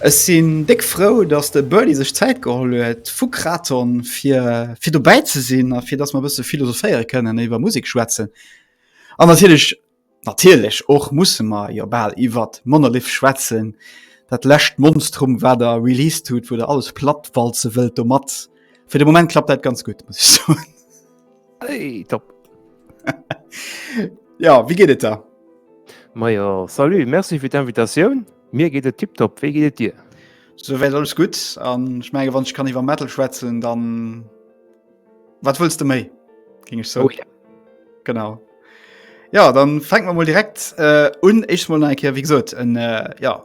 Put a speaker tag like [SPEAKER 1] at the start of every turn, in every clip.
[SPEAKER 1] Ech sinn déck frou, dass de Burly sech Zäit geholl huet vu Kraton fir fir dobäi ze sinn a fir dass mer e bësse philosophéiere kënnen, iwwer Musek schwätzen an natierlech natierlech och musse mer jo bal iwwer Monolith schwätzen, dat lescht Monstrum wat der released hutt, wou der alles plattwalze wëllt domat. Fir de Moment klappt dat ganz gut hey,
[SPEAKER 2] top
[SPEAKER 1] Ja wie geet et da? Meier
[SPEAKER 2] Salu Merci fir d'Invitatioun mir geet et tipp top wéi geet Dir? So wéi alles
[SPEAKER 1] gut an schmenge wann ech kann iwwer Metal schwätzen dann wat wëllst du méi? Ging ech so oh, ja.
[SPEAKER 2] Genau.
[SPEAKER 1] Ja dann fänken man mal direkt äh, un Ech mal enkeer wie gesot äh, ja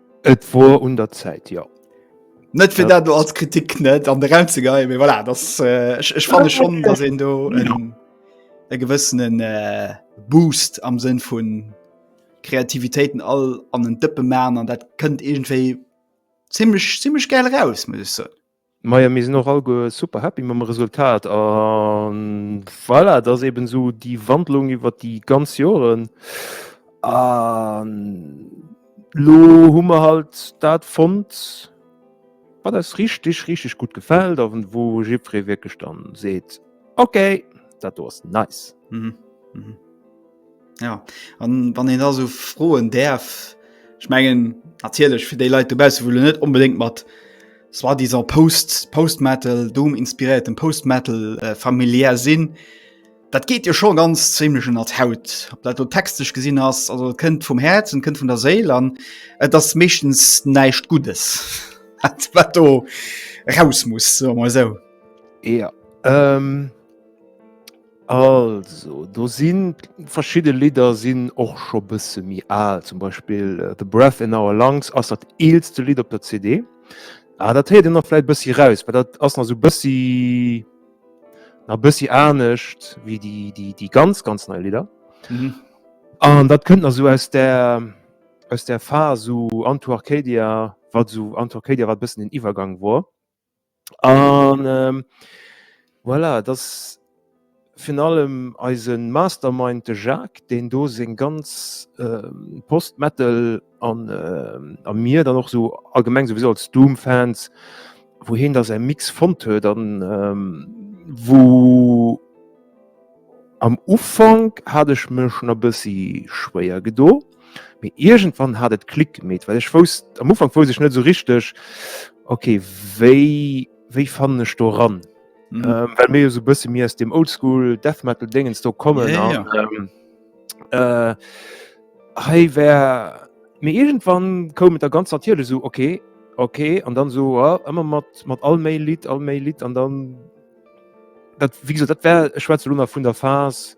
[SPEAKER 2] Et wor un der Zäit, jo. Net fir
[SPEAKER 1] dat do als Kritik net an de Raum ze geien, mee voilà, dass, äh, ech, ech fanne schon, dass een do en, e gewëssenen äh, Boost am Sënn vu Kreativitéiten all an en Dëppe man an dat kënnt iergendwéi zimmlech, zimmlech gäil eraus, muss ech soen. Majo mir sinn och
[SPEAKER 2] allguer super happy mam Resultat a voilà, et ass eben esou déi Wandlung iwwer déi ganz Joren a lo hu mer halt dat fonnt wat eis richteg richteg gutt gefält a wou jiddweree wierklech dann seet, okay dat do ass nice.
[SPEAKER 1] Ja, an wann een da so froen däerf, ech mengen natierlech fir déi Leit dobausse wëlle net onbedéngt mat soit disant Post Postmetal Doom inspiréiertem Postmetal äh, familiär sinn. Dat geet jo scho ganz ziemlech ënner d'Haut. Ob dat do textech gesinn ass, also et kënnt vum Häerz und kënnt vun der Séil an et ass meeschtens näischt Guddes wat wat do raus muss, soe mer esou. Ja,
[SPEAKER 2] ähm. Also do sinn verschidde Lidder sinn och scho bësse méi al, zum Beispill äh, The Breath in Our Lungs ass dat eelste Lidd op der CD. Ah, dat heet en nach vläit bëssi raus, well dat ass nach so bëssi na bëssi anescht wéi déi déi déi ganz ganz nei Lidder. Mhm.
[SPEAKER 1] An dat
[SPEAKER 2] kënnt nach so aus der aus der Phase so Anto Arcadia, wat so Anto Arcadia wat bëssen den Iwwergang war. An ähm, voilà, dass virun allem eise Mastermind, de Jacques, deen do seng ganz ähm, Post-Metal an ähm, a mir dann och sou allgemeng souwisou als Doom-Fans, wou heen da säi Mix fonnt huet an ähm, wou, Am Ufank hat ech mech na bessi schwéier gedo, mee iergendwann hat et Klick gemeet, well ech wousst, am Ufank wousst ech net esou richteg, ok wéi wéi fannen ech do ran, well
[SPEAKER 1] mir jo esou bessi
[SPEAKER 2] méi aus dem old school death metal Déngens do kommen an
[SPEAKER 1] hei
[SPEAKER 2] war, mee iergendwann koum et da ganz natierlech esou, ok ok an dann esou ëmmer mat mat all méi Lidd all méi Lidd an dann, Dat wieso dat wär e schwarze Lunner vun der Phase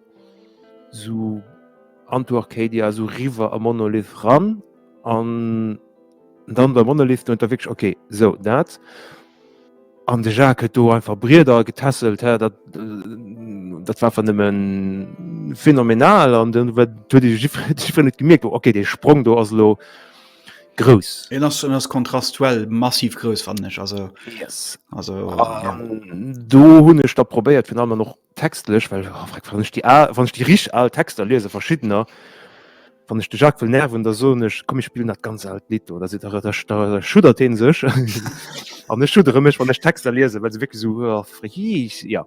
[SPEAKER 2] so an to Arcadia so riwer a Monolith ran an dann der Monolith no der wg okay sou dat an de Jacques huet do einfach Brieder getässelt hä dat dat war vernemmen phänomenal an den huet huet jifer net gemierkt okay dee Sprong do ass lo. Grouss. En ass en ass
[SPEAKER 1] kontrastuell massiv grouss fannen ech also yes. also um,
[SPEAKER 2] ja.
[SPEAKER 1] do
[SPEAKER 2] hunn ech da probéiert fir allem noch textlech well oh, frag, wann ich die wann ich die rich al Texter lese verschiedener wann ich de Jacques will nerven der so ech komme ich spielen dat ganz alt Lied oder se der schudert den sech an ech schudere mech wann ech Texter lese well se wirklich so oh, friech, ja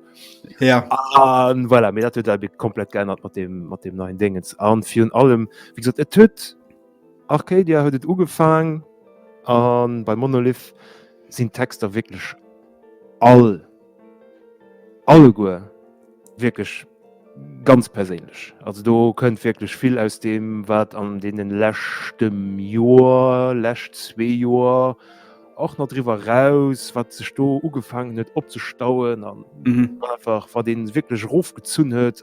[SPEAKER 2] ja an voilà, mir dat komplett geändert mat dem mat dem neuen Dingens an virun allem wie gesagt et töt Arcadia huet et ugefaang an bei Monolith sinn d'Texter wierklech all, alleguer wierklech ganz perséinlech. Also do kënnt wierklech vill aus deem, wat an deene leschte Joer, lescht zwee Joer, och nach driwwer eraus, wat sech do ugefaangen huet opzestauen an einfach wat ee wierklech erofgezunn huet.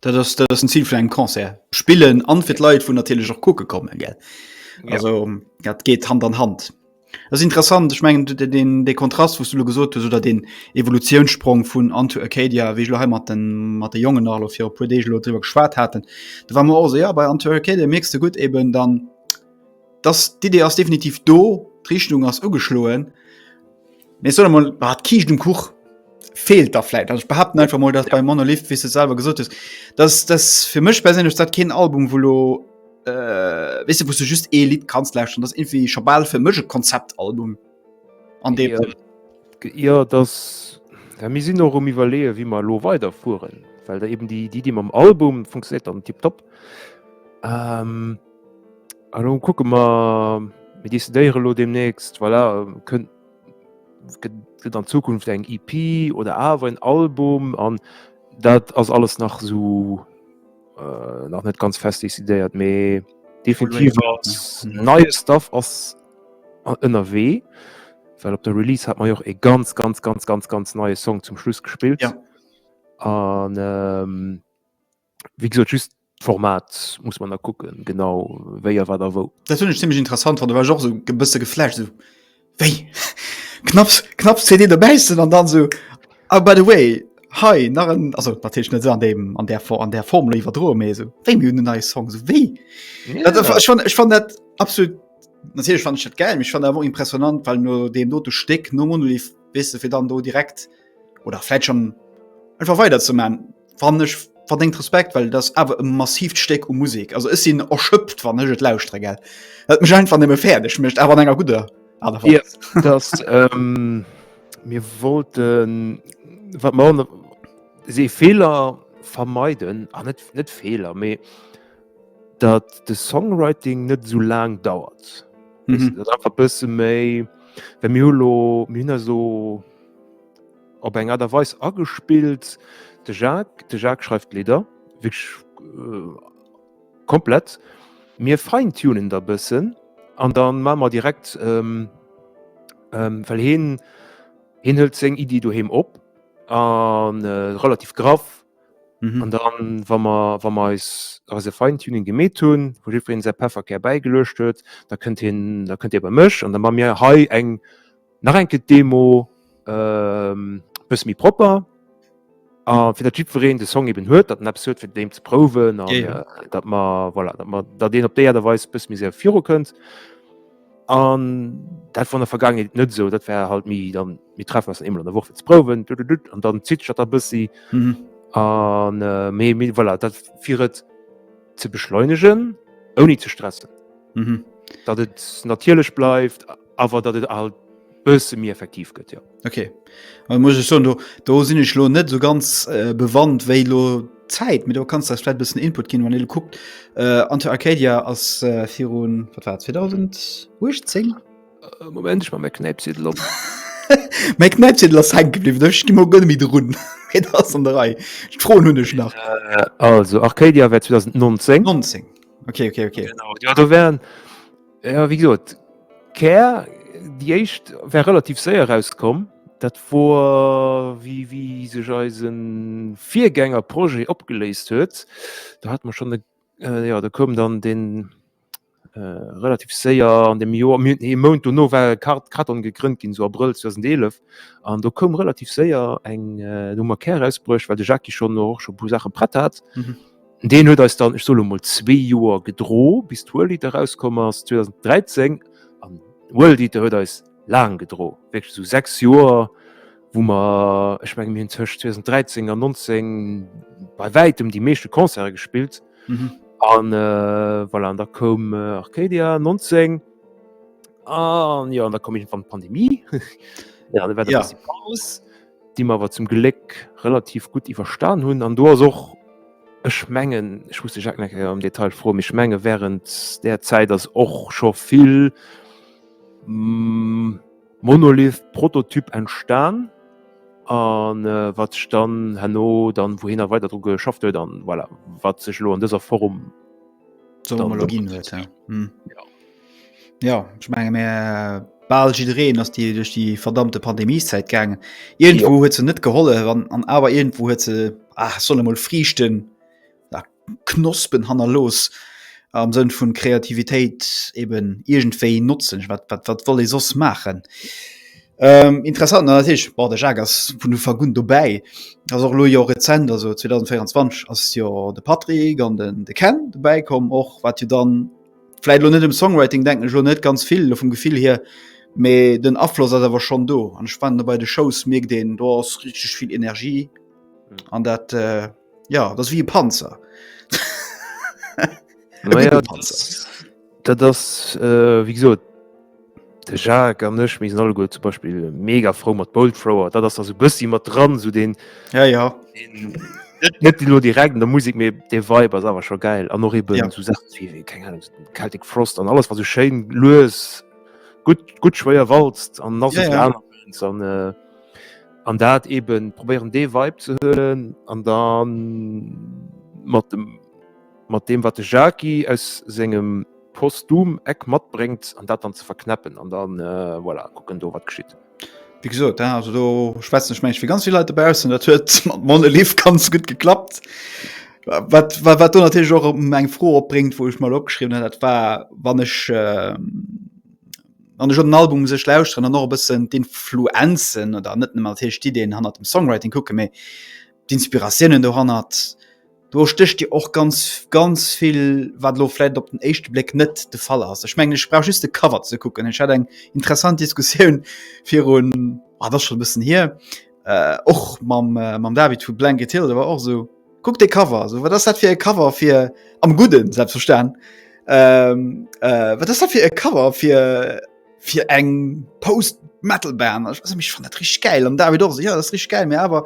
[SPEAKER 2] Dat ass dat
[SPEAKER 1] ass den Zil vun engem Concert. Spillen an fir d'Leit vun natierlech och kucke kommen gell. Also dat geet Hand an Hand. Dat ass interessant, ech mengen de den de Kontrast wou's du lo gesot hues oder den Evolutionssprong vun Unto Arcadia, wéi ech lo hei mat den mat de Jongen nach lo fir e puer Deeg lo driwwer geschwat haten. Da war mer och esou, ja bei Unto Arcadia mierks de gutt eben dann dass d'Idee ass definitiv do, d'Richtung ass ugeschloen. Mee solle mol war d' Kiischt um Kuch feelt da vläit. Also ech behaapten einfach mol, datt bei Monolith, wéi s de selwer gesot hues, datt datt fir mech perséinlech dat keen Album wou lo weess de wou s de just ee Lidd kanns lauschteren. Datt irgendwie scho bal fir mech e Konzeptalbum an deem Sënn. Jo,
[SPEAKER 2] datt well mir sinn och um iwwerleeë wéi mer elo weiderfueren, well da eben déi Iddi mam Album funktionéiert dann tiptop. Hallo kucke ma mir décidéiere lo demnächst voilà, kënnt gëtt an Zukunft eng IP e oder awer en Album an dat ass alles nach so äh, nach net ganz fest décidéiert méi definitiv als neie Staff ass ënnerwee. Well op der Release hat man joch e ganz ganz ganz ganz ganz neie Song zum Schluss gespillt. Ja. An ähm, Wéi gesot just d'Format muss man da kucken, genau wéi a wat a wou. Dat hunn ech zimmlech interessant
[SPEAKER 1] fonnt, da war ech och esou e bësse geflasht, esou wéi? Knapps, knapps CD dobäissen an dann esou, oh by the way, hei nach en, also natierlech net esou an deem, an där Form, an där Form elo iwwerdroe mee esou, wéi mir hunn en neie Song, esou wéi? Ja. Dat, ech fann, ech fann dat absolut, natierlech fann ech dat gäil, mee ech fann dat awer och impressionant, well no deem dote Stéck no Monolith, weess de, fir dann do direkt oder vläit schonn einfach weiderzeman. Wann ech verdéngt Respekt, well dat ass awer e massivt Stéck u Musek. Also ech sinn erschöpft, wann ech et lauschtere, gell. Dat mécht einfach nëmme fäerdeg, mécht awer an enger gudder Aart a Weis. Ja,
[SPEAKER 2] dass ähm, mir wollten, wat mer an se Fehler vermeiden, an net net Fehler, mee dat de Songwriting net so laang dauert. Mhm. Dat einfach bësse méi, well mir hu lo mir hunn da so op eng Aart a Weis agespillt. De Jacques, de Jacques schreift d'Lidder, wierklech komplett. Mir fine-tunen da bëssen an da maache mer direkt, well hien, hien hëlt seng Iddie doheem op a relativ graff. An da wa mer, wa mer eis, eise Fine-tuning gemeet hunn, wou jiddweree säi Pefferkär bäigeluecht huet, da kënnt hien, da kënnt hie bei mech an da maache mir hei eng. Nach enke d'Demo ähm, bësse méi propper. A fir dat jiddwereen de Song eben huet, dat en eppes huet fir deem ze prouwen an Ja, ja. äh, dat mer voilà, dat mer dat een op déi Aart a Weis bësse méi séier viru kënnt. An dat war an der Vergaangenheet net esou. Dat war halt méi dann mir treffen eis dann eemol an der Woch fir ze prouwen dududut, an dann zitt sech dat da bëssi. Mhm. An äh, méi méi voilà, dat fir et ze beschleunegen, ouni ze stressen. Mhm. datt et natierlech bleift Awer datt et alt bësse méi effektiv gëtt, jo. Okay. An
[SPEAKER 1] muss ech soen, do, do sinn ech lo net so ganz äh, bewandt, wéi lo Zäit, mit do kannst das vielleicht bisschen Input gehen, wann ihr guckt äh, Anti Arcadia als äh, Firun, was war 2018? Äh, Moment
[SPEAKER 2] ich mal mein Knäipsiedel op. mein Knäipsiedel ass hängen geblieben, da gi mo gënne mi
[SPEAKER 1] run. Et ass an der Rei. Froen hunn ech nach. Äh,
[SPEAKER 2] also Arcadia war 2019. 19. Okay, okay,
[SPEAKER 1] okay. Genau. Ja, da
[SPEAKER 2] wären Ja, wie gesot Kär déi éischt wär relativ séier rauskomm. Dat wor wéi wéi sech eise Virgänger Projet opgeléist huet. Do hat mer schonn e jo do koum dann deen relativ séier an deem Joer mir hunn ee Mount dono war e Kar Karton gegrënnt ginn esou Abrëll 2011. An do koum relativ séier eng do hu mer Kär erausbruecht, well de Jackie schonn och scho e puer Saache prett hat. Deen huet eis dann, ech soe lo mol, zwee Joer gedro bis d'World Eater erauskomm ass 2013. An d'World Eater huet eis laang gedro, wierklech esou sechs Joer, wou mer, ech menge mir hunn tëscht 2013 an 19 bei wäitem déi meeschte Concerte gespillt. An voilà, an da koum Arcadia 19 an jo, an da koum iergendwann d'Pandemie. An da war et e bësse Paus. déi mer awer zum Gléck relativ gutt iwwerstan hunn. An do ass och, ech mengen, ech muss de Jacques nach eng Kéier am Detail froen, mee ech menge während där Zäit ass och scho vill Monolith-Prototyp entstan a wat sech dann herno dann wouhinner weider dru geschafft huet a voilà, wat sech elo an dëser Form.
[SPEAKER 1] Homologien huet ja. Hm. ja. Ja ich menge mé bal jireen ass die duch die verdammte Pandemieszeit gangen. Irgendwo huet ze net geholle wann an awer irgendwo huet ze ach solle mol frieschten da knospen hanner los am Sënn vun Kreativitéit eben irgendwéi notzen wat wat wat wolle sos machen. Ähm, interessant na, ich, boah, der Jacques ass vun der Vergun dobäi ass och lo jo rezent also 2024 ass jo de Patrick an den de Ken dobäi kom och wat jo dann vielleicht lo net dem Songwriting denken lo net ganz vill vum Gefill hier méi den Afloss ass awer schon do an spannend bei de Shows mir den do ass richtig viel Energie an dat äh, Ja dat wie e Panzer
[SPEAKER 2] Dat ass äh, wie gesot de Jacques an nech mis all go zum Beispiel mega froh mat Boldfrower, dat ass se bëssi mat dran so den ja, ja. net lo direkt der Musik mé de Weiber awer scho geil an noch eben ja. zu Celtic Frost an alles was so schein loes gut gut schwéier walzt an nas ja, ja. Äh, an dat eben probéieren dee Weib ze hëllen an dann mat dem mat dem wat de Jaki aus sengem postum Eck matbréngt an dat dann ze verknäppen an dann äh, voilà, kucken do wat geschitt. Wie gesot
[SPEAKER 1] also do schwätzen ech mensch fir ganz viele Leute bausen, dat huet mat Monelief ganz gut geklappt. Wat, wat, wat du natürlich och eng Fro opbringt, wo ich mal opgeschrieben hat, dat war wann ech äh, an schon den Album sech lausren an och bëssen d'Influenzen oder net mal Tisch die den hannert dem Songwriting kucke méi d'Inspirationen do hannert do stöcht dir och ganz ganz viel wat lo vielleicht op den echte Blick net de Fall ass ich mengg sprach just de Cover ze kucken ich hat eng interessant Diskussioun vir un ah, das schon bëssen hier äh, och mam äh, mam David vu Blanket Hill der war och so Kuck de Cover so wat ass dat fir e Cover fir am Gudden selbst verstan ähm, äh, wat ass dat fir e Cover fir fir eng Post Metalband mech fan dat rich geil an David och ja, rich geil mir awer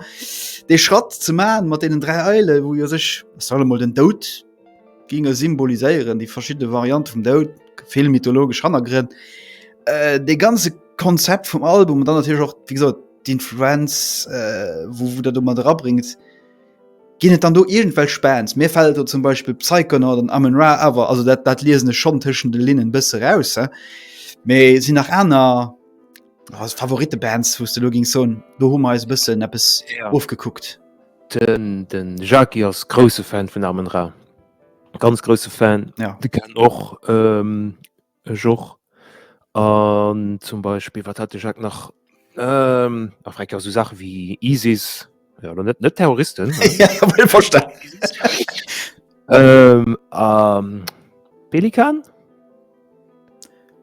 [SPEAKER 1] dee Schratt ze ma mat denen drei Eile wou jo sech solle mod den Dout ginge symboliséieren die verschi Variante vum Dout vill mythologisch hannergrinn äh, de ganze Konzept vum Album dann natürlich auch wie gesagt, d'Influenz äh, wo, wo der du mat rabringt. Ginn et dann do iergendwelch Bands? Mir fält do zum Beispill Psychonaut an Amon Ra awer, also dat, dat liesen ech schonn tëschent de Linnen bësse raus. Mee sinn nach aner oh, Favoritebands, wous de lo gingst soen, do hu mer eis e bëssen eppes ja. ofgekuckt. Den,
[SPEAKER 2] den Jackie ass grouse Fan vun Amon Ra. Ganz grouse Fan. Ja. De kann och ähm, Ech och. An zum Beispill, wat hat de Jacques nach? Ähm, a fregt jo esou Saache wéi ISIS, jo elo net, net Terroristen, ne? Verstane.
[SPEAKER 1] Ähm, a
[SPEAKER 2] Pelikan?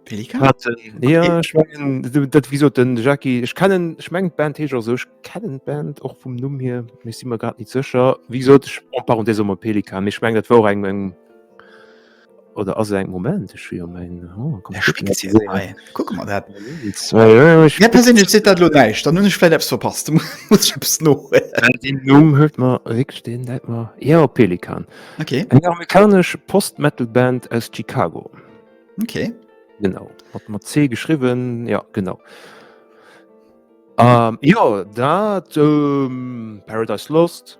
[SPEAKER 2] Pelikan? Hat en, jo, ech mengen, dat wéi sot den Jackie, ech kennen, ech mengen d'Band heescht och esou, ech kennen d'Band och vum Numm hier, mee si mer grad net sécher. Wéi gesot, ech, en parenthèse, soe mer Pelikan, mee ech mengen dat wor och eng, eng. oder as eng Moment ech jo
[SPEAKER 1] meng dat lo neicht dann hun ech vielleicht verpasst no Numm
[SPEAKER 2] huet man rik den dat man ja op Pelikan okay. eng
[SPEAKER 1] amerikasch
[SPEAKER 2] Postmetalband aus Chicago okay.
[SPEAKER 1] genau
[SPEAKER 2] hat mat C geschriwen ja genau. Um, ja dat um, Paradise Lost.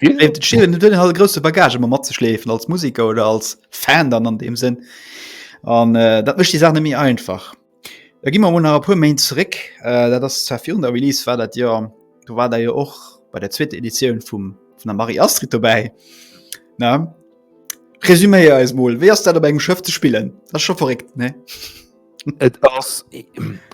[SPEAKER 1] hat grosse Bagage immer mat ze schleefen als Musiker oder als Fan dann an dem sinn an äh, dat mecht die Sache mir einfach da gi man hun pu Main zurück äh, dat das zwar der Release war dat ja du war da ja och bei der zweite Edition vum von der Marie Astrid vorbei na Resüméier eis mol wéi ass dat op engem Schëff ze spillen? Ass scho verréckt ne? Et ass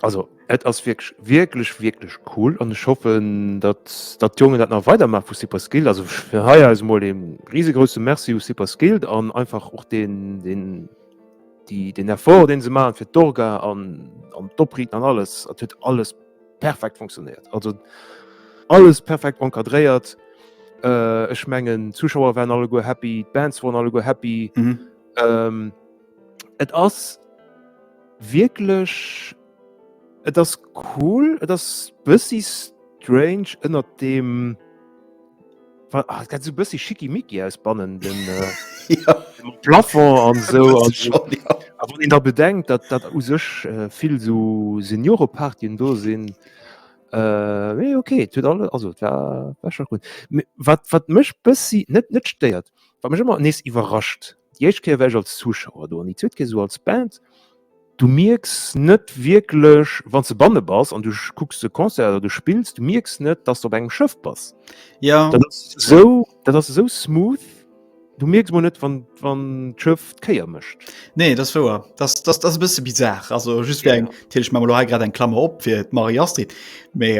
[SPEAKER 2] also et ass wirklich wirklich wirklich cool an ich hoffe dass dat Jonge dat nach weiter macht vu super Skill also für heuer ist mal dem riesegroße Merci u super Skill an einfach auch den den die den Erfolg den sie machen für Dorga an an Doppri an alles hat wird alles perfekt funktioniert also alles perfekt encadréiert äh, ich mengen Zuschauer waren alle go happy Bands waren alle go happy mhm. ähm, Et ass wierklech, et ass cool, et ass bëssi strange ënnert dem oh, dat so bëssi schickimicki aus bannen den äh,
[SPEAKER 1] ja. Plafond
[SPEAKER 2] an so, an so. Ja.
[SPEAKER 1] Aber wann da bedenkt,
[SPEAKER 2] dat dat u sech äh, vill so Seniorepartien do sinn. Äh, okay, tut alle also war, war schon gut. Wat wat mech bëssi net net stéiert Wat mech ëmmer nees iwwerrascht, déi éischt Kéier war ech als Zuschauer do an déi zweet Kéier esou als Band, du mierks net wierklech, wann s de banne bass an du kucks e Concert oder du spills, du mierks net, dass s de op engem Schëff bass. Dat ass
[SPEAKER 1] esou,
[SPEAKER 2] dat ass esou smooth, du mierks emol net, wann, wann d'Schëff d'Kéier mécht. Nee, dat ass wouer.
[SPEAKER 1] Dat ass, dat ass e bësse bizar. Also just fir eng, natierlech maache mer elo hei grad
[SPEAKER 2] eng
[SPEAKER 1] Klammer op fir d'Marie-Astrid, mee,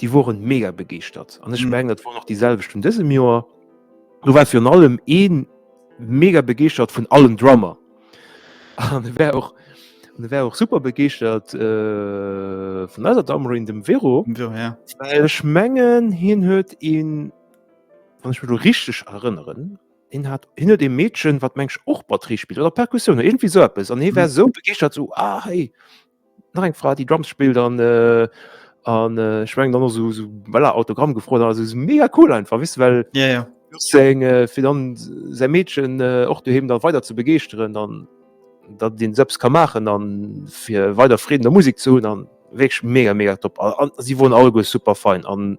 [SPEAKER 2] déi woren mega begeeschtert an ech mhm. mengen et war noch déi selwecht vun dësem Joer. Du war virun allem een mega begeeschtert vun allen Drummer wär och wär och super begeeschtert äh, vun eiser Dammer in dem Vero Ech
[SPEAKER 1] mengen
[SPEAKER 2] hien huet een wann ich mir du richtig erinnern hin hat hinne dem Mädchen wat mensch och batterie spielt oder Perkussion irgendwie so es an he wär mhm. so begeert zu so, ah, hey, nach eng Fra déi Drums spillt an äh, an äh, schwengen dann so, so voilà, Autogramm gefrot also so mega cool einfach wis well ja, ja. Seng,
[SPEAKER 1] äh, fir
[SPEAKER 2] dann se Mädchen äh, och äh, du hem dann weiter ze begeeschteren dann dat den selbst kann machen an fir weiter Frieden der Musik zu hun an wéch mega mega top an, an, sie wurden all go super fein an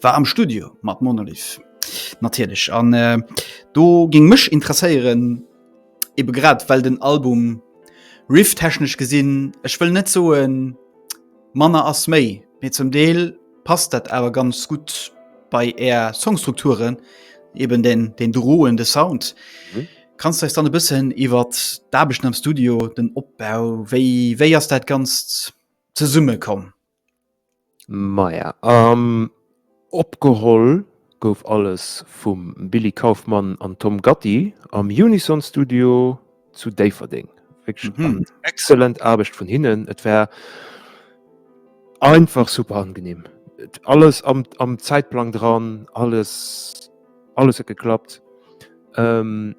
[SPEAKER 1] War am Studio mat Monolith natierlech an do géing mech interesséieren, ebe grad well den Album rifftechnesch gesinn, ech wëll net soe manner ass méi, mee zum Deel passt dat awer ganz gutt bei är Songstrukturen, eben deen droende Sound. Kanns de eis dann e bëssen iwwer d'Aarbechten am Studio, den Opbau, wéi ass dat Ganzt zesummekomm?
[SPEAKER 2] Maja, um, opgeholl gouf alles vum Billy Kaufmann an Tom Gatti am Unison Studio zu Déifferdeng. Wierklech eng excellent Aarbecht vun hinnen. Et war einfach super angenehm. Et alles am, am Zäitplang dran, alles, alles huet geklappt. Um.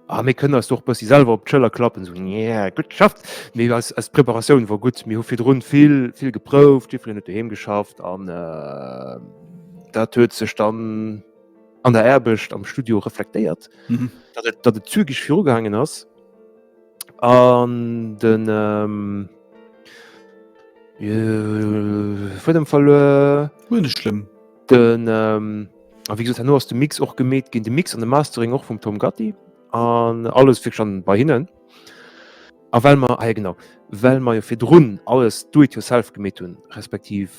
[SPEAKER 2] Ah, mir kënne ass doch bëssi selwer op d'Schëller klappen so yeah, gut geschafft mé als, als Preparatioun war gut mir hu fir run vill vill geprouft Jiffel net doheem geschafft an äh, dat huet sech dann an der Erbecht am Studio reflektéiert mhm. dat et, dat et zügig virugehangen ass an den ähm, äh, vor dem Fall äh, schlimm
[SPEAKER 1] Den, ähm,
[SPEAKER 2] a wéi gesot, herno ass de Mix och gemeet ginn, de Mix an de Mastering och vum Tom Gatti an alles fir schon bei hinnen. A well mer, ah ja genau, well mer jo virdrun alles do it yourself gemeet hunn, respektiv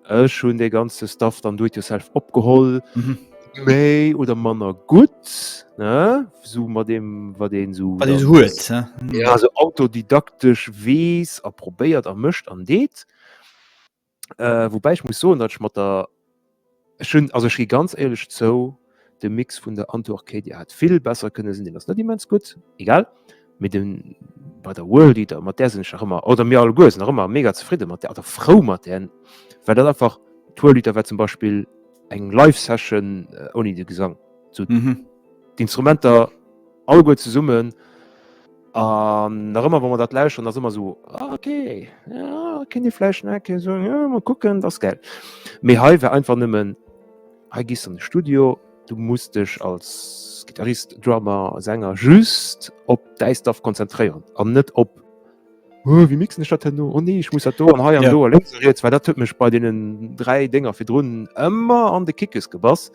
[SPEAKER 2] ech hunn dee ganze Stuff dann do it yourself opgeholl, mhm. méi oder manner gutt, ne? So mat dem, wat deen so. Wat deen huet,
[SPEAKER 1] ne? Ja, so
[SPEAKER 2] autodidaktesch weess a probéiert a mëscht an deet. Äh, wobäi ech muss soen, datt ech mat der ech hunn also ech gi ganz éierlech zou, de Mix vun der Anto Arcadia hätt vill besser kënne sinn, deen ass net immens gutt, egal. Mee den bei der World Eater, mat där sinn ech nach ëmmer, oder mir alleguer sinn nach ëmmer mega zefridde mat där oder frou mat där, well dat einfach d'World Eater war zum Beispill eng Live-Session ouni de Gesang. Zu Mhm. d'Instrumenter alleguer zesummen. An nach ëmmer, wa mer dat lauschteren, ass ëmmer esou, ah, ok, ah, kéint ee vläicht nach kee soen, jo, mal kucken, dat ass gäil. Mee hei war einfach nëmmen, hei gees du an de Studio, du muss dech als Gittarist, Drummer, Sänger just op däi Stuff konzentréieren an net op, oh, wéi mixen ech dat herno, oh nee, ech muss dat do an hei an do a lénks a riets, well dat huet mech bei deenen dräi Dénger virdrun ëmmer an de Kickes gebass,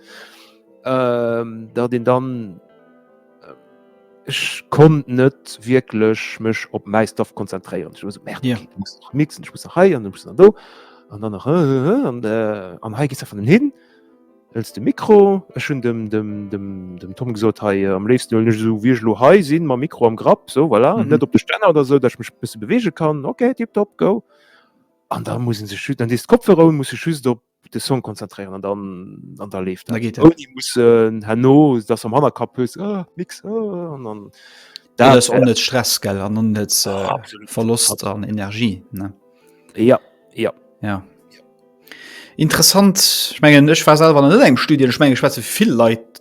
[SPEAKER 2] datt een dann. Ech konnt net wierklech mech op mäi Stuff konzentréieren. Ech war so, merde, Ja. okay, du musst nach mixen, ech muss nach hei an du musst nach do. An dann nach, äh, äh, äh, an, äh, an hei gis einfach den hin. Hëls de Mikro. Ech hunn dem, dem, dem, dem Tom gesot, hei, äh, am léifsten huelen ech esou, wéi ech lo hei sinn, mam Mikro am Grapp, so, voilà, Mhm. net op de Stänner oder so, datt ech mech e bësse bewege kann. Okay, tipptopp, go. An da muss en sech just, dann dees d'Kopfhörer un, muss sech just op de Song konzentréieren an dann an der leeft muss hanno dats am hanner kap hues ah, mix ah, an dann da ass
[SPEAKER 1] on net stress gell an on net äh, ah, verlost an energie ne ja
[SPEAKER 2] ja ja
[SPEAKER 1] interessant schmengen ech war selber net eng studie schmengen schwätze vill leit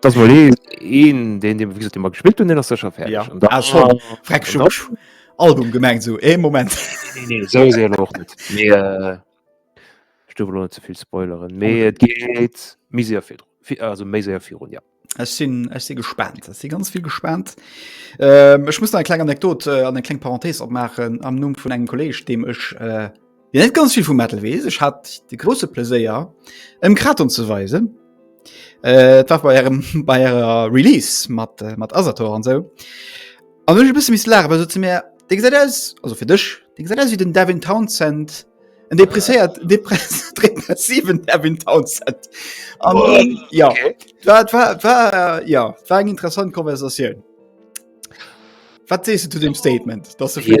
[SPEAKER 2] Das mol een, een den dem wis immer gespielt hun den as secher fertig. Ja. Und dann, ah, schon.
[SPEAKER 1] Freck schon. Dann, Album gemengt so e Moment nee, nee,
[SPEAKER 2] so och net äh, Stuwe zuvill Spoileren méi et geet miséier fir also méi séier fir run ja. Ech sinn ech si
[SPEAKER 1] gespannt si ganz vill gespannt. Ähm, ech muss en kleng Anekdot äh, an eng kleng Parenthees opmachen am Numm vun engem Kolleg, deem ech äh, Wien net ganz vill vum Metal wees, ech hat de grosse Pleséier ëm Kraton ze weisen. Äh, et war bei ärem bei ärer Release mat äh, mat Asator an sou. An ech e bësse miss lachen, well se ze mir Dé gesäit aus also fir dech, Dé gesäit aus wéi den Devin Townsend en depresséiert depress depressiven Devin Townsend. An Oh, ja, okay. war war war ja, war eng interessant Konversatioun. Wat sees du zu dem Statement dass ja,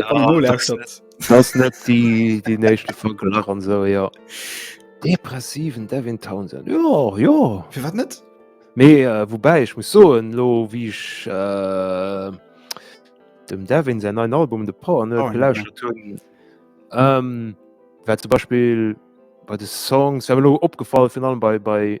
[SPEAKER 2] das net die die nächte vu gelach an so ja depressiven Devin Townsend Jo Jo fir wat net
[SPEAKER 1] méi äh, wobei
[SPEAKER 2] ich muss so en lo wie ich äh, dem Devin sein ein Album de Power oh, ja. ähm, zum Beispiel bei de Songs opgefallen final bei bei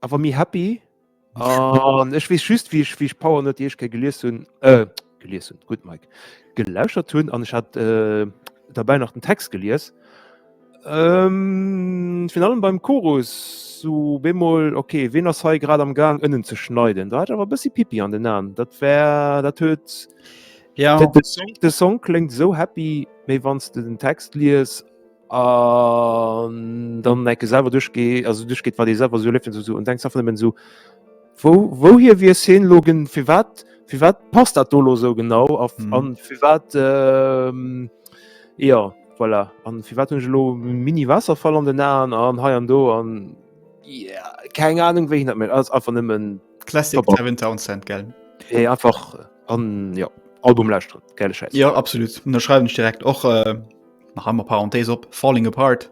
[SPEAKER 2] awer méi happy an ech wees just wie ich wie ich power net ich ke geliers hun äh, geliers hun gut Mike gelauscher tun an ich hat äh, dabei nach den Text geliers ähm, fin allem beim Chorus so bemol okay wen ass hei grad am gang ënnen ze schneiden da hat awer bëssi pipi an den an dat wär dat huet ja de Song, de Song klingt so happy méi wanns du den Text lies An dann enke selwer duerchgee also duerchgeet, wat ee selwer esou erlieft huet oder esou an denkt einfach nëmmen esou, Wou, wouhier wiers hien elo gen, firwat, firwat passt dat do elo esou genau a a firwat, jo, voilà, a firwat hunn ech elo e Mini-Waasserfall an den Aen an hei an do an keng Anung wéi hien dat mécht. Ass einfach nëmmen Classic Devin
[SPEAKER 1] Townsend, gell? Hei einfach
[SPEAKER 2] an, jo, Album lauschteren, gäile Schäiss. Jo, absolut, ënnerschreiwen
[SPEAKER 1] ech direkt och. nach einmal Parenthese op falling apart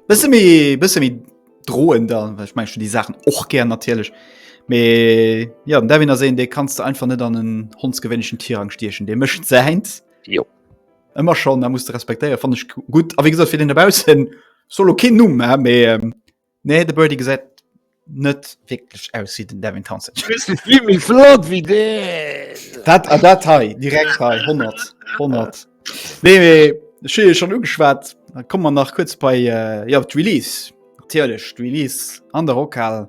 [SPEAKER 1] bisschen wie bisschen wie drohen da ich mein schon die Sachen och gern natürlich me ja da wenn er sehen de kannst du einfach net an den hondsgewwenschen Tierrang stierchen de mischt seins jo immer schon da musst du respektieren fand ich gut aber wie gesagt für den derbau hin solo kind nu me ähm, Nee, de Birdie gesäit net wécklech aus wéi den Devin Townsend. Jimmy flott
[SPEAKER 2] wie de Dat a
[SPEAKER 1] dat hei direkt hei 100 100. Nee mee Schiel schon ugeschwat, da kom man nach kurz bei äh, ja, d'Release. Natierlech d'Release an der Rockhal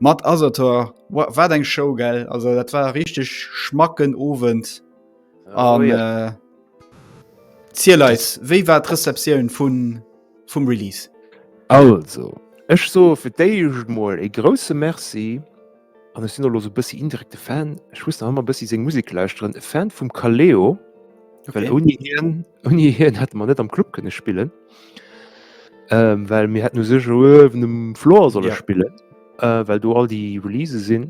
[SPEAKER 1] mat Asator wat eng Show gell. Also dat war richtig schmacken Owend an oh, ja. äh, Zieleis, wéi war d'Rezeptioun vun vum Release.
[SPEAKER 2] Also, ech soe fir d'éischt
[SPEAKER 1] mol
[SPEAKER 2] ee grousse Merci, an ech sinn elo sou e bëssi indirekte Fan, ech muss nach ëmmer e bëssi seng Musek lauschteren, e Fan vum Kaleo, well ouni hien, ouni hien hätte mer net am Club kënne spillen, well mir hätten u sech elo uewen um Floor solle spillen, well do all déi Release sinn,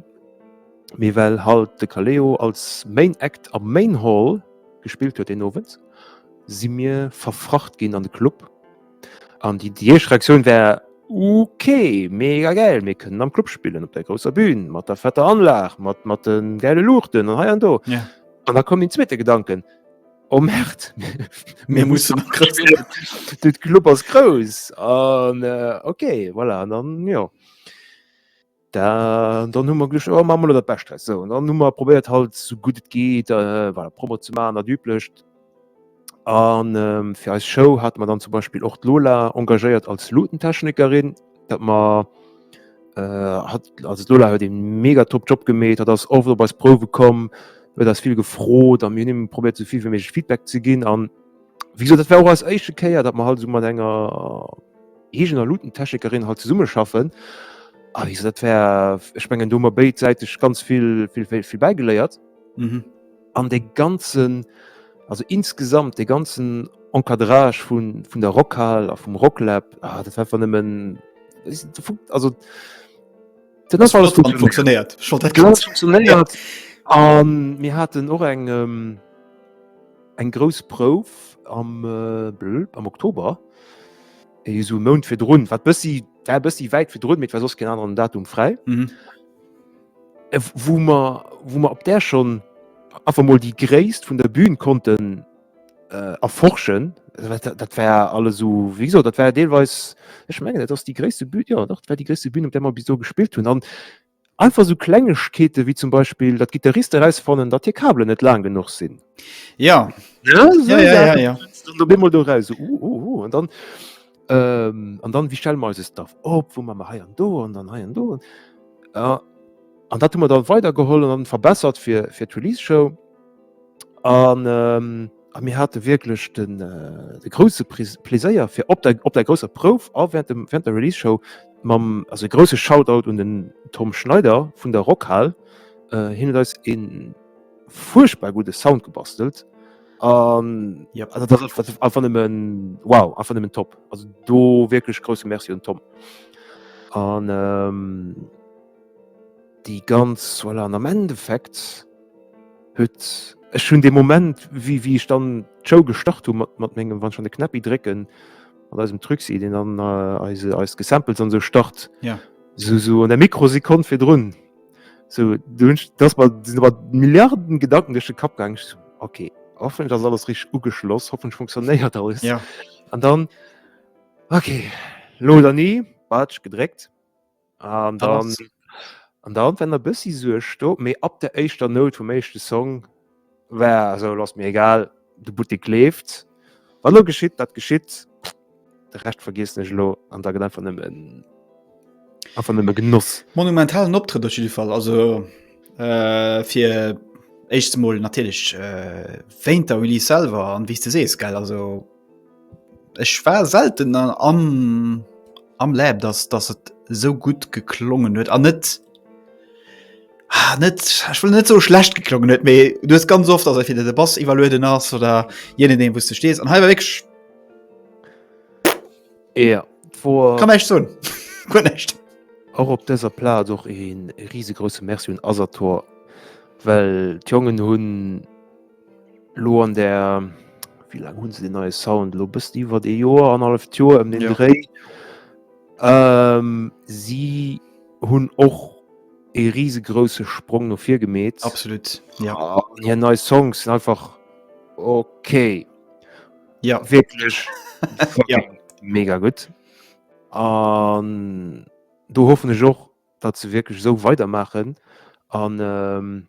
[SPEAKER 2] mee well halt de Kaleo als Main Act am Main Hall gespillt huet deen Owend. si mir verfracht ginn an de Club. An déi, déi éischt Reaktioun war, Okay, mega gäil, mir kënnen am Club spillen, op der grousser Bühn, mat der fetter Anlag, mat, mat de gäile Luuchten an hei an do. Ja. An da koum den zweete Gedanken, Oh Merd, mir
[SPEAKER 1] mussen nach grad spielen.
[SPEAKER 2] De Club ass grouss. An äh, okay, voilà, an dann, jo. Dann hu mer gelucht oh, ma dat bescht dress so dann hu mer probéiert halt so gut et geht äh, war Promo ze ma dat üblecht an ähm, fir eis Show hat man dann zum Beispiel och Lola engagéiert als Lotentechnikerin dat man äh, hat als Lola huet den mega top Job gemet hat ass oft op als Prove kom huet ass viel gefrot an mir nimmen probiert soviel wie méch Feedback ze ginn an wieso dat war als eische Kéier dat man halt so mat enger Heegen a Lutentechnekerin halt zesumme schaffen a wéi se dat wär ech mengen do mer béidsäiteg ganz vill vill vill bäigeléiert mhm. an de ganzen also insgesamt de ganzen Encadrage vun vun der Rockhal a vum Rocklab ah, dat war nëmmen also funktioniert
[SPEAKER 1] funktioniert
[SPEAKER 2] mir hatten och eng ähm, Eng grouss Prouf am am Oktober eso Mount fir drun wat bëssi wär bëssi wäit fir drun, mee et war soss keen aneren Datum fräi. Mhm. Äh, wo mer wo mer op där schon einfach mal déi Gréisst vun der Bühn konnten äh, erforschen. Also, wat- Dat, dat war alles so wie gesagt, dat war deelweis ech mengen dat ass déi gréisste Bühn ja, doch, dat war déi gréisste Bühn op där mer bis do gespillt hunn an Einfach esou Klengegkeete wéi zum Beispill, datt d'Gittariste erausfannen, datt hir Kabelen net laang genuch sinn. Ja,
[SPEAKER 1] ja, ja, ja, ja. Dann bemol do raus, so, uh, uh,
[SPEAKER 2] uh. an dann ähm, an dann wie stelle mer eise Staff op, wou man mer hei an do an dann hei an do. An dat hu mer dann weidergeholl an verbessert fir, fir d'Release-Show. An ähm, a mir hate wierklech den äh, de grouse Pris- Pläséier fir op der, op der grousser Prouf a während, dem, während der Release-Show mam also e grouse Shoutout un den Tom Schneider vun der Rockhal. Äh, hien huet eis een furchtbar gudde Sound gebastelt. An Ja. also dat ass einfach- einfach nëmmen wow, einfach nëmmen top. Also do wierklech grousse Merci un Tom. An ähm, Déi ganz, voilà, an am Endeffekt huet, ech hunn dee Moment, wéi wéi ech dann d'Show gestart hu mat mat mengem, wann ech an de Knäppi drécken, mat eisem Truxi, deen dann eise eis Gesamples an esou start, esou esou an der Mikrosekonn virdrun, esou do hunn ech, do ass mer, sinn mer Milliarden Gedanken duerch de Kapp gaangen, ech esou, ok, hoffentlech ass alles richteg ugeschloss, hoffentlech funktionéiert alles, an dann, ok, elo oder ni, Batsch gedréckt. An dann, an dann wenn der bëssi Suerg sto, mee ab der éischter Note vum éischte Song war esou, lo ass mir egal, de Buttek leeft, wat elo geschitt, dat geschitt, de Rescht vergiessen ech elo an da gëtt einfach nëmmen, einfach nëmme Genoss. Monumentalen
[SPEAKER 1] Optrëtt op jidde Fall, also fir d'éischt emol natierlech wéint der Release selwer an wéi s de sees, gell, also. Ech war selten an am am Lab dass dass et sou gutt geklongen huet an net ah, net ech will net so schlecht geklongen huet, méi du hues ganz oft ass entweder de Bass iwwerlueden ass oder je nachdem wou's du stees an hei war wéineg
[SPEAKER 2] Ja, d'wor kann näischt soen
[SPEAKER 1] guer näischt. och op
[SPEAKER 2] dëser Plaz och ee risegrouse Merci un Asator, well d'Jongen hunn, Lo an der wéi laang hunn se deen neie Sound lo bëssi iwwer ee Joer, annerhalleft Joer ëm den Ja. Dréi. Ähm, si hunn och ee risegrouse Sprong no vir gemeet. Absolut, ja.
[SPEAKER 1] An hir nei
[SPEAKER 2] Songs sinn einfach okay. Ja. Wierklech Ja. mega gutt. An do hoffen ech och, datt se wierklech esou weidermaachen an.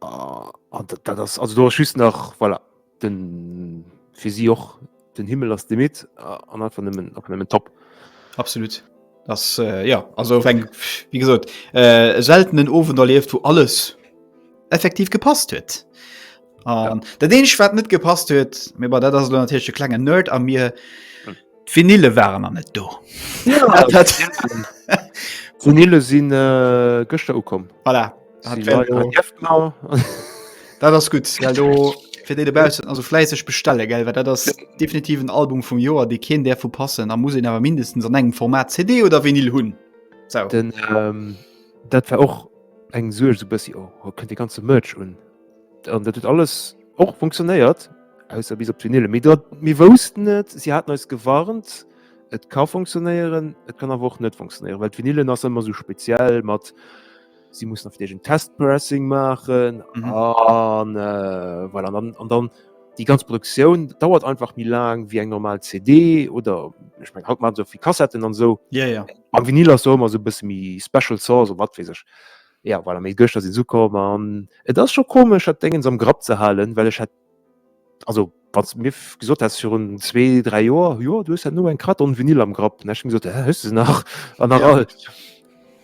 [SPEAKER 2] Ah, ah, dat, dat ass also do ass just nach voilà, den fir si och den Himmel ass de mit ah, an einfach nëmmen einfach nëmmen top. Absolut.
[SPEAKER 1] Das, äh, ja also eng wie gesot äh, seltenen Ofwen erlieft, wo alles effektiv gepasst huet. An dat eenzeg wat net gepasst huet, mee bei dat ass lo natierlech de klengen Nerd a mir, d'Vinille waren an net do. D'Vinille
[SPEAKER 2] sinn äh, gëschter ukomm. Voilà. Hat wär
[SPEAKER 1] lo- Genau. Dat ass gut. Well do fir déi dobaussen also fläisseg bestelle gell, well dat ass definitiv en Album vum Joer, dee keen där vu passen. A muss een awer mindestens an engem Format CD oder Vinyl hunn. Sou. Den, ähm,
[SPEAKER 2] dat war och eng Suerg so bëssi oh, oh, kënnt de ganze Merch un. An dat huet alles och funktionéiert ausser bis op d'Vinyl. Mee dat mir woussten et, si haten eis gewarnt, et ka funktionéieren, et kann awer och net funktionéieren, well d'Vinylen ass ëmmer esou speziell mat si mussen oft iergend Testpressing maachen an voilà. An dann, an dann déi ganz Produktioun dauert einfach méi laang wéi eng normal CD oder ech meng haut maache se och fir Kassetten an esou. Mam Vinyl
[SPEAKER 1] ass do ëmmer
[SPEAKER 2] esou e bësse méi special sauce oder wat weess ech. Ja voilà, mee gëschter sinn se ukomm an et ass scho komesch dat Déngens am Grapp ze halen, well ech hätt, also wann s de mir gesot häss virun zwee, dräi Joer, jo du hues dat no, eng Carte en Vinyl am Grapp, dann hätt ech mol gesot, hä, hues de se nach? An nach all.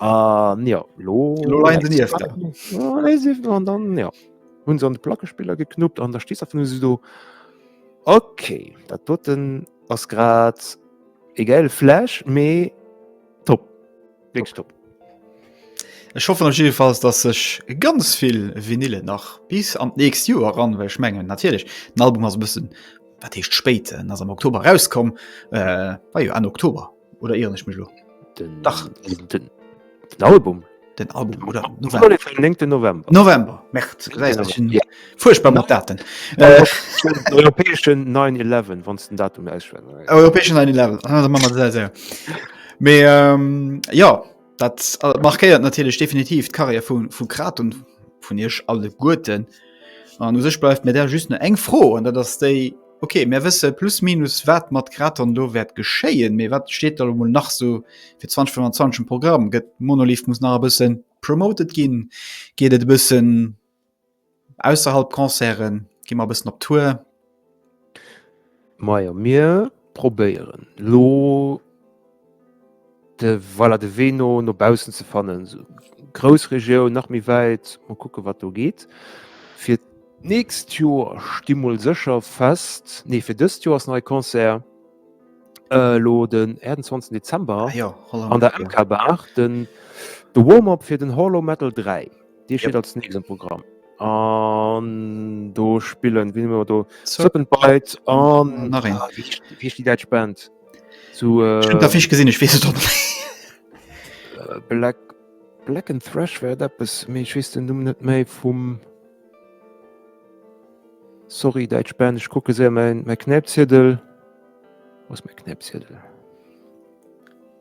[SPEAKER 2] An jo, elo leien se niefter. Elo leie se niefter an dann, jo, hunn se an de Plackespiller geknuppt an da stees einfach nëmme sou do. Ok, dat doten ass grad e gäile Flash, mee top. Wéngst op.
[SPEAKER 1] Ech hoffen op jiddefalls, datt sech ganz vill Vinylen nach bis an d'nächst Joer eran, well ech mengen natierlech den Album ass e bëssen, wat heescht spéit, en ass am Oktober erauskomm, war jo Enn Oktober oder ieren ech mech elo? Den Dach
[SPEAKER 2] den Album? Den Album
[SPEAKER 1] oder November, 9 November,
[SPEAKER 2] November, März, du gesäis ech hunn.
[SPEAKER 1] Fuerchtbar mat Daten. Äh, Europäeschen 9-11,
[SPEAKER 2] wann den Datum ausschwnnen. Europäeschen 9-11,
[SPEAKER 1] ah, man sehr, sehr. Mais, ähm, ja, dat äh, markéiert natürlich definitiv d'Karriere vun vu Kraton vun Isch alle Gurten. An du sech bleifft mir der just ne eng froh an dat ass déi okay mir wësse plus minus wat mat Kraton do wäert geschéien, méi wat steet da mo nach so fir 2025 Programm gëtt Monolith muss nach e bëssen promoted ginn, geet et bëssen Ausserhalb Concerten gi mer e bëssen op Tour. Majo,
[SPEAKER 2] mir probéieren elo de, voilà, de Wee no no baussen ze fannen, Groussregioun, nach méi wäit, mol kucke wat do geet. Fir d'nächst Joer sti mol sécher fest, nee, fir dëst Joer ass nach e Concert elo den 28 Dezember an der MK Bar, den de Warm-up fir den Hall o' Metal 3. Dee steet als nächst am Programm. An do spillen wien immer do Serpent Bite an nach een. Ah, wie, ist- wie ist die Dutch Band? Zu äh, Stimmt, da fisch gesinn, ich
[SPEAKER 1] wees doch. äh, Black
[SPEAKER 2] Black and Thrash wär eppes méi ich wees den Numm net méi vum Sorry Dutch Band ich gucke se mein mein Knäpziedel was mein Knäpziedel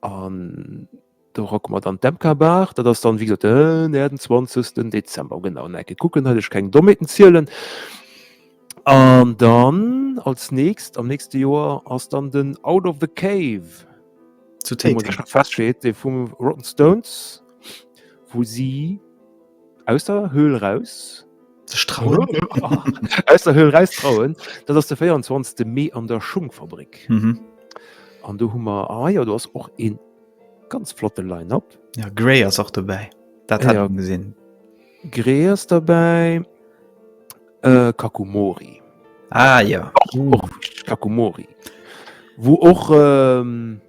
[SPEAKER 2] An do rocke mer dann d'MK-Bar. Dat ass dann, wéi gesot, den 28. Dezember. Genau, eng Ecke kucken, datt ech keng Dommheeten zielen. An dann als nächst, am nächste Joer ass dann den Out of the Cave,
[SPEAKER 1] dee fum
[SPEAKER 2] Rotten Stones, wou si. Aus der Höhl raus sech trauen. Aus der Höhl raus trauen. Dat ass de 24. Mee an der Schungfabrik. Mhm. An do hu mer ah, ja, du ass och een ganz flotte Line-up. Ja, Grey ass och
[SPEAKER 1] dobäi. Dat ja. hat gesinn. Grey ass
[SPEAKER 2] dabei äh, Kakumori. Ah ja.
[SPEAKER 1] Och, och
[SPEAKER 2] Kakumori. Wo och ähm,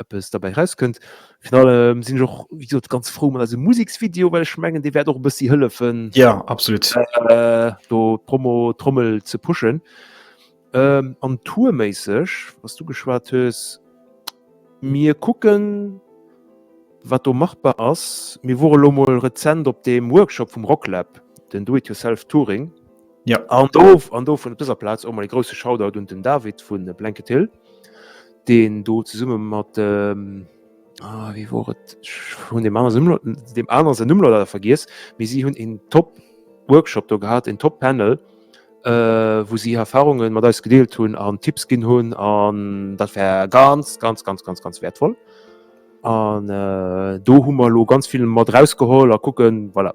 [SPEAKER 2] eppes derbäi rauskënnt. Fin allem sinn ech och wéi gesot ganz frou mat eise Museksvideo, well ech mengen, dee wäert och e bëssi hëllefen. Ja absolut. Äh,
[SPEAKER 1] do
[SPEAKER 2] d'Promo Trommel ze pushen. Ähm, an tourméisseg, was du geschwat hues, mir kucken, wat do machbar ass. Mir wore lo mol rezent op deem Workshop vum Rocklab, den Do It Yourself Touring. Ja.
[SPEAKER 1] An do,
[SPEAKER 2] an do vun op dëser Plaz och mol e grouse Shoutout un den David vu Blanket Hill. deen do zesumme mat dem ah wéi wor et hunn dem aner Numm dem aner se Numm leider vergiess mee si hunn en top Workshop do gehat en top Panel äh wou si Erfahrungen mat eis gedeelt hunn an Tipps ginn hunn an dat war ganz ganz ganz ganz ganz wertvoll an äh do hu mer lo ganz vill mat rausgeholl a kucken voilà.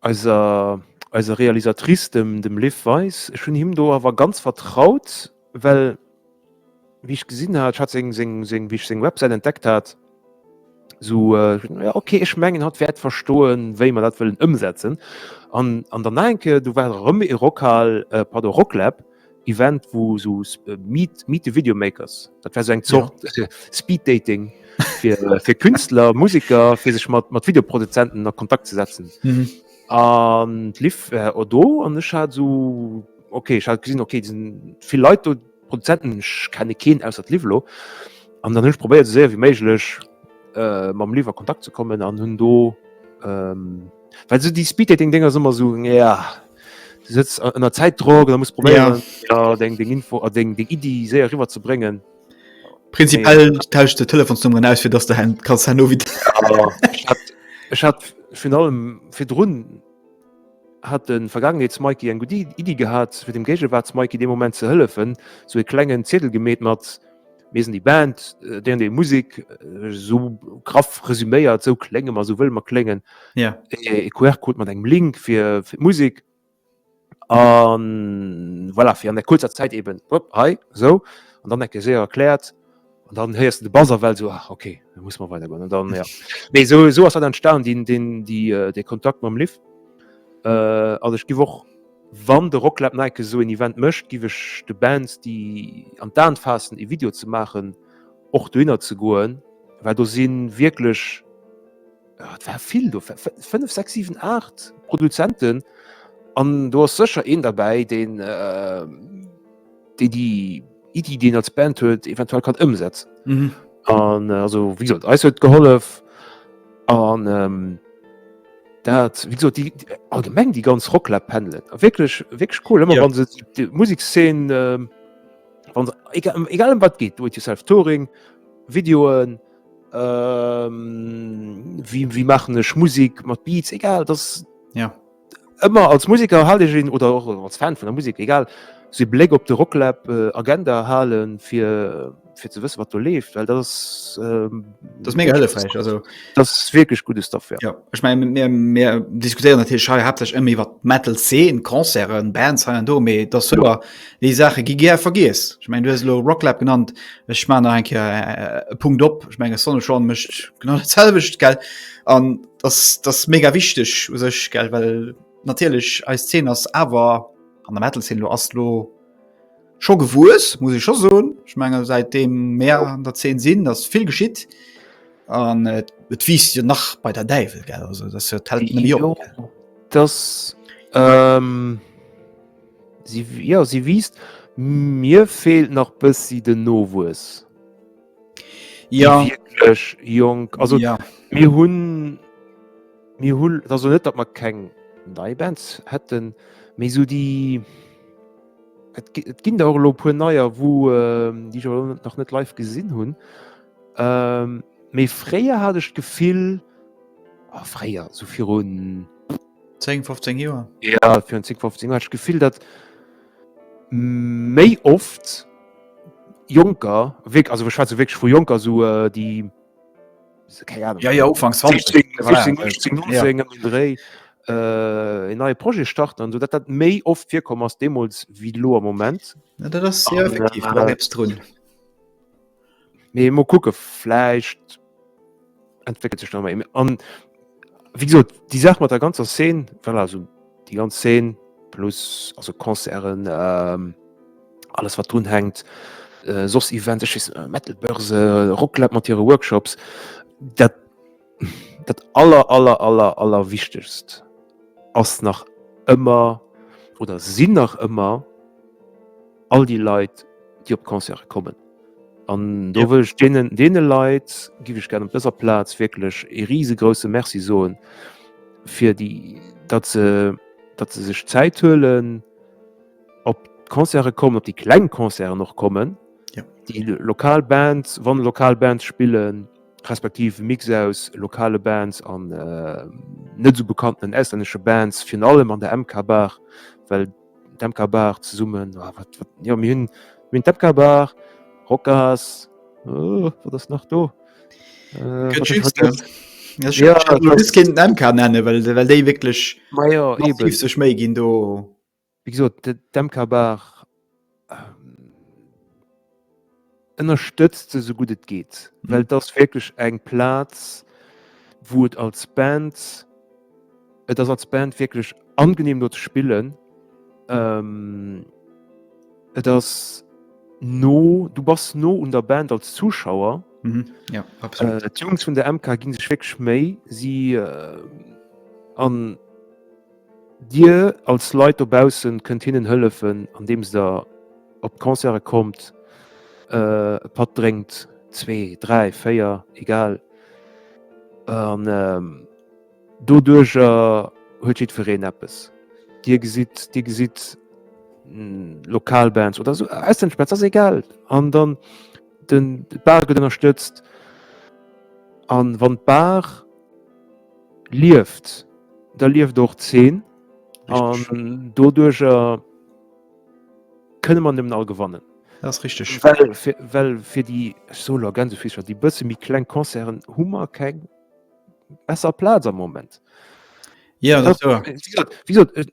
[SPEAKER 1] Eiser
[SPEAKER 2] eiser Realisatrice, dem dem Liv Weis. Ech hunn him do awer ganz vertraut, well wéi ech gesinn hat, ech hat seng seng seng wéi ech seng Websäit entdeckt hat, esou jo okay, ech mengen hatt wäert verstoen, wéi mer dat wëllen ëmsetzen. An an dann nach eng Kéier, do war erëm e Rockhal, pardon, Rocklab. Event wou sou meet meet the video makers dat wär sou eng Zort ja. Speed dating fir, äh, fir Künstler Musiker fir sech mat mat Videoproduzenten a Kontakt ze setzen mhm. an lief äh, o do an ech hat so okay ich hat gesinn okay diesen viel Leute Produzenten ich kenne keen aus dat Livelo an dann hunch probéiert sehr wie méiglech äh, mam Liefer Kontakt ze kommen an hunn do ähm, Well so déi Speeddating Dinger ass ëmmer sou ja du sëtz ënner Zäitdrock, da muss probéieren ja. deng deng Info a deng deng Iddi séier riwwer ze bréngen. Prinzipiell
[SPEAKER 1] nee. tausch de Telefonsnummern aus fir dats der hen kannst hanno wie.
[SPEAKER 2] Ech hat vun allem fir Drun hat den vergangeneets Mikey eng gut Iddi gehat fir dem Géigewart Mikey de Moment ze hëllefen, sou e klengen Ziedel gemeet mat Mir sinn déi Band, déi an déi Musik esou graff resüméiert, esou klénge mer, esou wëlle mer kléngen. Ja. E QR-Code mat engem Link fir, fir d'Musik. An voilà, fir an der kurzer Zäit eben, hopp, hei, esou. An dann enke séier erkläert. An dann héiers du de Bass awell esou, ach, okay, da muss mer weidergoen. An dann, ja. Mee esou, esou ass dat entstanen, deen, deen, déi, dee Kontakt mam Liv. An ech giff och. Wann de Rocklab Nike esou een Event mécht, giff ech de Bands déi an d'Aan faassen ee Video ze maachen, och dohinner ze goen, well do sinn wierklech, et ware vill do, 5, 6, 7, 8 Produzenten an do ass sécher een derbäi deen. déi di Iddi, déi een als Band huet, eventuell kann ëmsetzen. Mhm. An äh, also wie gesagt, eis huet gehollef an ähm, dat wie gesagt, die, die, allgemeng die ganz Rocklab pendeln. Wirklich wirklich cool immer ja. wann se die Musikszen äh, wann egal, ähm, egal um wat geht, do it yourself Touring, Videoen, ähm, wie, wie machen ech Musik mat Beats egal das ja.
[SPEAKER 1] Ëmmer als
[SPEAKER 2] Museker hal ech een, oder och als Fan vun der Musek, egal, sou ee Bléck op de Rocklab Agenda halen, fir fir ze wësse wat do leeft, well dat ass dat ass mega
[SPEAKER 1] hëllefräich, also dat ass wierklech gudde
[SPEAKER 2] Stuff, jo. Ech mengen, mir
[SPEAKER 1] mir diskutéieren natierlech hei haaptsächlech ëmmer iwwer d'Metal-Zeen, Concerten, Bands hei an do, mee et ass wouer, déi Saache gi gär vergiess. Ech mengen, du hues elo Rocklab genannt, ech maachen nach eng Kéier e Punkt op, ech menge Sonic Shaun mécht genau dat selwecht, gell, an. Das, das mega wichtig u sech gell well natierlech eis 10 ass awer an der Metal sinn lo ass lo scho gewues muss ich scho soen ich menge seit dem Meer an der 10 sinn ass vill geschitt an et äh, wiest jo nach bei der Däiwel gell also das hört halt net jo op, das
[SPEAKER 2] ähm, sie ja sie wiest mir fehlt nach bëssi den Nowues.
[SPEAKER 1] Ja. Wierklech
[SPEAKER 2] jonk. Also ja. mir hunn mir hunn also net dat mat keng nei Bands hätten méi so die Et ginn der lo puer neier, wou ähm, Di nach net live gesinn hunn. Ähm, méi fréier hat ech d'Gefill ah, fréier so virun 10 15
[SPEAKER 1] Joer. Ja fir 10 15 Joer
[SPEAKER 2] gefill dat méi oft Jonker, wierk also ech schwätze wierklech vu Jonker, esou äh, déi se- keng
[SPEAKER 1] Ahnung, Ja, ja, Ufank 20. 16, Voilà, 16, äh, 18, ja. 19 ëm den Dréi
[SPEAKER 2] äh, en neie Projet starten an esou, datt dat méi oft virkomm ass deemools wéi elo am Moment. Ja, dat ass, ja, An, effektiv, do ass äh, eppes drun. Mee mo kucke vläicht entwéckelt sech nochmal an wie gesot déi Saach mat der ganzer Szen well also déi ganz Szen plus also Konzeren ähm, alles wat drun hängt äh, soss Events ech wees, äh, Metalbörse, Rocklab mat hire Workshops dat Dat aller aller aller aller wichtegst ass nach ëmmer oder sinn nach ëmmer all déi Leit déi op d'Concerte kommen. An do ja. wëll ech deenen, deene Leit giwe ech gern op dëser Plaz wierklech e riesegrousse Merci soen fir déi dat se dat se sech Zäit huelen op d'Concerte kommen, op déi kleng Concerten och kommen, ja. déi lokal Band, wann lokal Band spillen. respektiv Mix aus lokale Bands an äh, net so bekannten auslännesche Bands fir allem an der MK Bar well d'MK Bar zesummen oh, ah, wat, wat, ja, mir hunn minn d'MK Bar Rockers oh, wat ass nach do
[SPEAKER 1] äh, kind nennen well well déi wkleg sech méi ginn do. Wéi gesot,
[SPEAKER 2] d'MKBar ënnerstëtzt se esou gutt et geet, well et ass wierklech eng Plaz, wou et als Band, et ass als Band wierklech angeneem do ze spillen. Et ass no, du bass no un der Band als Zuschauer.
[SPEAKER 1] D'Jungs
[SPEAKER 2] vun der MK gi sech wierklech Méi, si an. Dir als Leit dobaussen kënnt hinnen hëllefen andeems der op d'Concerte kommt, e Patt drénkt, zwee, dräi, véier, egal, an doduercher huet jiddwereen eppes. Dir gesitt, Dir gesitt lokal Bands oder esou auslännesch Bands, ass egal, an dann d'Bar gëtt ënnerstëtzt, a wann d'Bar. lieft da lieft och d'Zeen an doduercher kënne man dem all gewannen. Dat ass richteg.
[SPEAKER 1] Well fir, well fir
[SPEAKER 2] déi Soler Gänsefiischer, déi bësse méi kleng Concerten hu mer keng besser Plaz am Moment. Ja,
[SPEAKER 1] dat ass wouer. Wéi gesot, wéi gesot,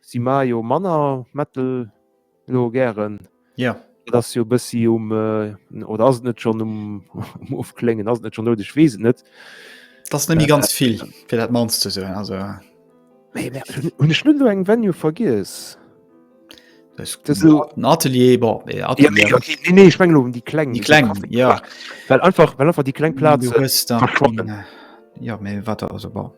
[SPEAKER 2] Si maache jo manner Metal elo gären. Ja. Et ass
[SPEAKER 1] jo e bëssi
[SPEAKER 2] um äh, oder ass et net schon um, um Ofkléngen, ass et net schon dout, ech weess et net. Das nemme
[SPEAKER 1] ganz vill fir dat mans ze soen also
[SPEAKER 2] hun ech net eng Venue vergiess Atelier ichreng um die kleng die kleng ja
[SPEAKER 1] well einfach well
[SPEAKER 2] einfach die kleng Platz äh, ja,
[SPEAKER 1] wat also,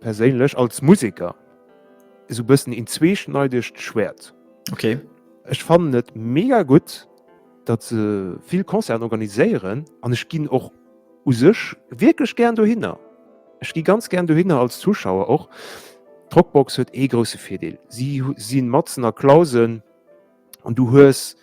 [SPEAKER 2] Perséinlech als Museker esou e bëssen een zweeschneidegt Schwäert. Okay.
[SPEAKER 1] Ech fannen et
[SPEAKER 2] mega gutt, datt se vill Concerten organiséieren an ech ginn och u sech wierklech gären dohinner. Ech gi ganz gären dohinner als Zuschauer och. D'Rockbox huet ee grousse Virdeel, si si matzen a Clausen an du hues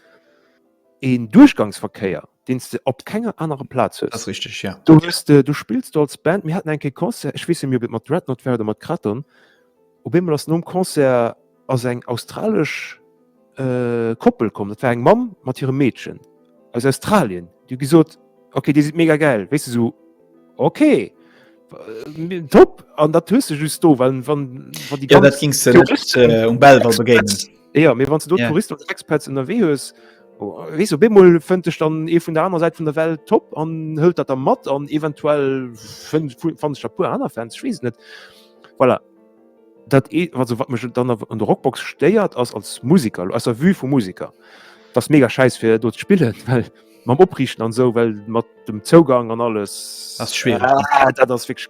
[SPEAKER 2] een Duerchgangsverkéier. den du op kenger anerer Platz hues. Richtig, ja. Du,
[SPEAKER 1] okay. du spills du
[SPEAKER 2] als Band mir hatten enke Konzer ich wisse mir mat Dreadnot werden mat Kraton Op immer ass nom Konzer ass eng australisch äh, Koppel kommen dat war eng Mam mat ihrem Mädchen aus Australien du gesot okay die sieht mega geil weißt du so okay äh, top an dat hue just do wann wann die ja, ging äh,
[SPEAKER 1] um Bel begegnen. Ja, mir wann du
[SPEAKER 2] Tourist oder Expats
[SPEAKER 1] unterwee
[SPEAKER 2] hues oh, wees du bemol fënnt ech dann e vun der anderen Seite vun der Welt top an hëlt dat der mat an eventuell fand der pur aner Fans schwes net voilà. dat e wat wat mech dann an der Rockbox steiert ass als Musiker as der vue vu Musiker das mega scheiß fir dort spielen well man oprichten an so well mat dem Zougang an alles das schwer ah,
[SPEAKER 1] dat ass fix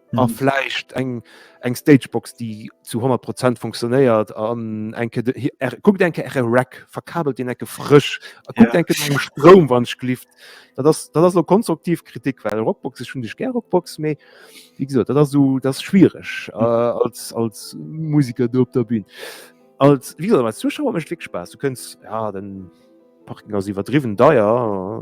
[SPEAKER 2] Mhm. A vläicht eng, eng Stagebox, déi zu 100 Prozent funktionéiert an enke guck denke Ä Rack verkabelt den enke frësch a guck denke engem Stroum wann schlift. Dat ass dat ass lo konstruktiv Kritik, well Rockbox ech hunn dech ger Rockbox méi wie gesot, dat ass esou dat schwiereg äh, als als Musiker do op der Bün. Als wie als Zuschauer mech fik Spaass. Du kënns ja den Parking ass iwwerdriwwen deier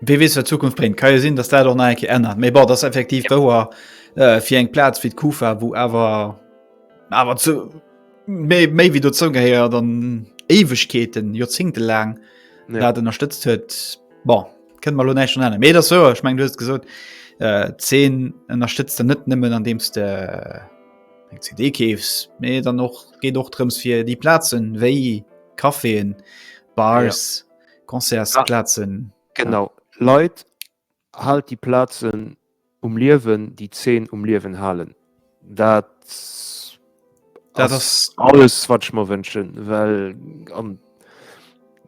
[SPEAKER 2] Wie wees
[SPEAKER 1] wat Zukunft bréngt. Ka jo sinn, datt dat och nach eng Kéier ännert. Mee bon, dat ass effektiv wouer äh, fir eng Plaz wéi d'Kufa, wou awer awer zu méi méi wéi dozou gehéiert an Éiwegkeeten, Joerzingte laang Ja. dat ënnerstëtzt huet. Bon, kënne mer lo näischt dran änneren. Mee dat sewer, ech meng du hues gesot, äh, d'Zeen ënnerstëtzt en net nëmmen an deems de eng CD keefs, mee dann och geet och drëms fir déi Plazen wéi Caféen, Bars, Concertsplazen. Genau,
[SPEAKER 2] Leit, haalt déi Plazen um Liewen, déi d'Zeen um Liewen halen. Dat ass alles, wat ech mer wënschen. Well,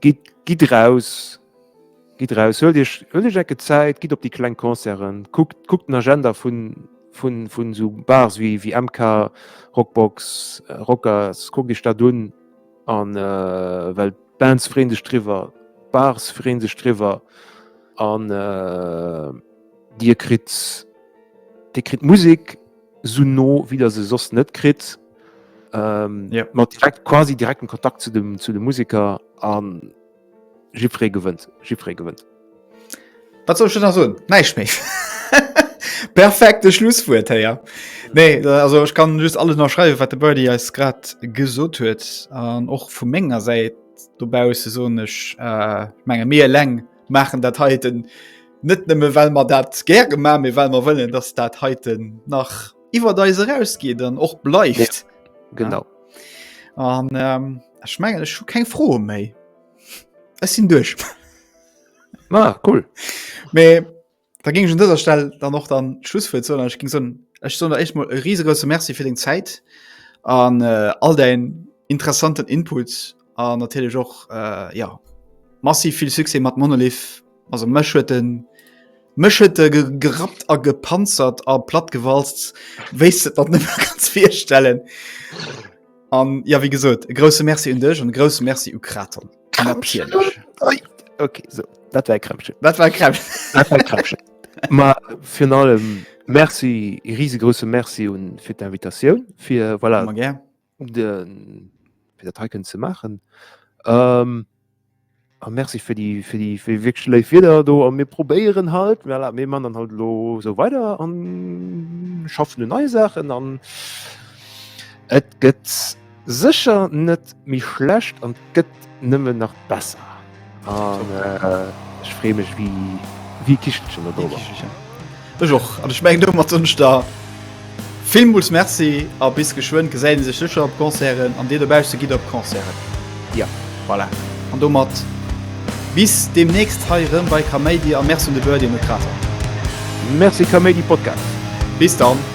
[SPEAKER 2] gitt eraus, gitt eraus, huelt Iech eng Ecke Zäit, gitt op déi kleng Concerten, kuckt, kuckt den Agenda vun esou Bars wéi MK, Rockbox, Rockers, kuckt Iech dat un. an äh, well d'Bands freen sech driwwer, d'Bars freen sech driwwer an äh, Dir kritt Dir kritt Musik so no wéi der se soss net kritt. Ähm, ja. mat direkt quasi direkten Kontakt zu dem zu de Musiker an Jippere gewënnt, Jippere gewënnt.
[SPEAKER 1] Wat soll ech da nach soen? Näischt méi. Perfekte Schlusswuert héi, ja. Nee, also ech kann just alles nach schreiwen, wat de Birdie eis grad gesot huet. An och vu menger Säit dobause soen ech äh, menge mir eleng maachen dat heiten net nëmme well mer dat gär gema mir well mer wëllen, dass dat heiten nach iwwer eis erausgeet an och bleift. Ja, genau. Ja.
[SPEAKER 2] an
[SPEAKER 1] ähm, ich mein, ich kein froh méi es sind durch ah,
[SPEAKER 2] cool Me,
[SPEAKER 1] da ging schon dieser Stelle dann noch dann Schluss für so ich ging so ich so echt mal riesige Merci für den Zeit an äh, all dein interessanten Inputs an natierlech och äh, ja massiv vill Suse mat Monolith also mech huet den mech huet äh, gerappt a gepanzert a platt gewalzt wéis se dat net ganz firstellen an ja wie gesot e grosse Merci un dech an grosse Merci u Kraton
[SPEAKER 2] okay, so. dat war Kremsche dat war Kremsche dat war Kremsche Ma fir allem Merci e risegrosse Merci un fir d'Invitatioun fir voilà, den fir dat hei kënnen ze maachen. Ähm, a Merci fir déi fir déi fir wéi schléif Wieder do a mir probéieren halt well mé man dann halt lo so weider an schaffen hun neii Saachen an et gëtt sécher net méi schlecht an gëtt nëmmen nach besser an ech free mech wéi wéi Kichelchen no dober. Ech
[SPEAKER 1] och an ech meng domat wënsch der villmools Merci a bis geschwënn. Gesäit ee sech sécher op Concerten an dir dobausse gitt op Concerten. Jo. Voilà an domat bis deemnächst hei erëm bei Kaméidi a Merci un de Birdie an de Krater. Merci
[SPEAKER 2] Kaméidi Podcast. Bis dann.